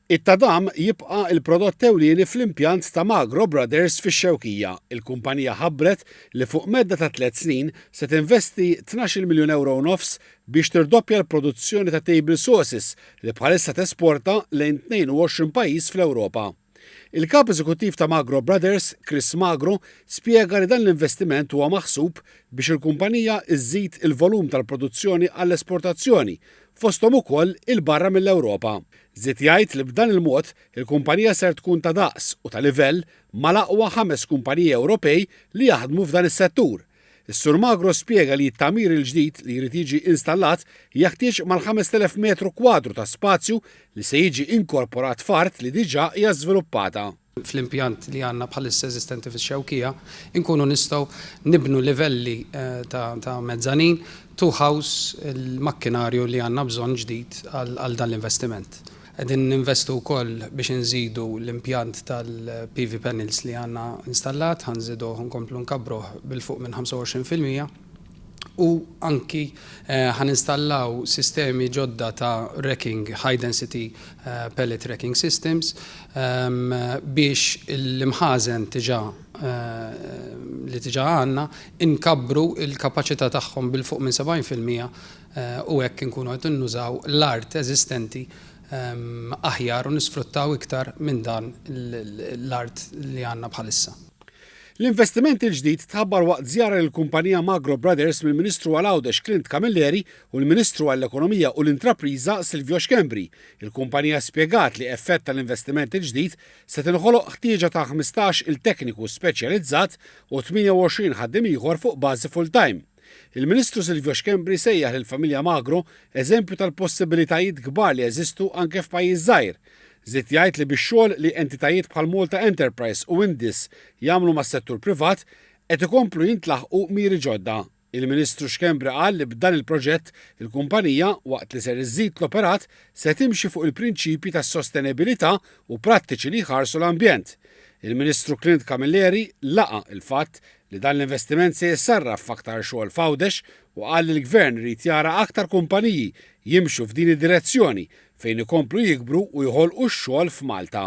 It-tadam jibqa' l-prodott ewlieni fl-impjant ta' Magro Brothers fix-Xewkija. Il-kumpanija ħabbret li fuq medda ta' tliet snin se tinvesti tnax-il miljun ewro u nofs biex tirdoppja l-produzzjoni ta' table sauces li bħalissa tesporta lejn 22 pajjiż fl-Ewropa. Il-Kap Eżekuttiv ta' Magro Brothers, Chris Magro, spjega li dan l-investiment huwa maħsub biex il-kumpanija żżid il-volum tal-produzzjoni għall-esportazzjoni, fosthom ukoll 'il barra mill-Ewropa. Żied jgħid li b'dan il-mod il-kumpanija ser tkun ta' daqs u ta' livell mal-aqwa ħames kumpaniji Ewropej li jaħdmu f'dan is-settur, Is-Sur Magro spjega li t-tagħmir il-ġdid li jrid jiġi installat jaħtieġ mal-5,000 metru kwadru ta' spazju li se jiġi inkorporat f'art li diġà hija żviluppata. Fl-impjant li għandna bħalissa eżistenti fix-Xewkija nkunu nistgħu nibnu livelli ta' mezzanin, two house, il-makkinarju li għandna bżonn ġdid għal dan l-investiment. Qegħdin ninvestu wkoll biex inżidu l-impjant tal-PV panels li għandna installat, ħa nżiduh u nkomplu nkabbruh b'il fuq minn 25 fil-mija u anki ħa ninstallaw sistemi ġodda ta' racking, high density pallet racking systems, biex l-imħażen diġà li diġà għandna nkabbru l-kapaċità tagħhom b'il fuq minn 70 fil-mija u hekk inkunu qed innużaw l-art eżistenti aħjar u nisfruttaw iktar minn dan l-art li għandna bħalissa. L-investiment il-ġdid tħabbar waqt żjara lill-kumpanija Magro Brothers mill-Ministru għal Għawdex Clint Camilleri u l-Ministru għall-Ekonomija u l-Intrapriża Silvio Schembri. Il-kumpanija spjegat li effett tal-investiment il-ġdid se tinħoloq ħtieġa ta' ħmistax-il tekniku speċjalizzat u 28 ħaddiem ieħor fuq bażi full-time. Il-Ministru Silvio Schembri sejjaħ lill-familja Magro eżempju tal-possibilitajiet kbar li jeżistu anke f'pajjiż żgħir. Żied jgħid li bix-xogħol li entitajiet bħal Malta Enterprise u Indis jagħmlu mas-settur privat, qed ikomplu jintlaħqu miri ġodda. Il-Ministru Schembri qal li b'dan il-proġett il-kumpanija, waqt li ser iżżid l-operat, se timxi fuq il-prinċipji tas-sostenebilità u prattiċi li jħarsu l-ambjent. Il-Ministru Clint Camilleri laqa' l-fatt li dan l-investiment se jissarraf f'aktar xogħol f'Għawdex u qal li l-Gvern irid jara aktar kumpaniji jimxu f'din id-direzzjoni fejn ikomplu jikbru u jħolqu x-xogħol f'Malta.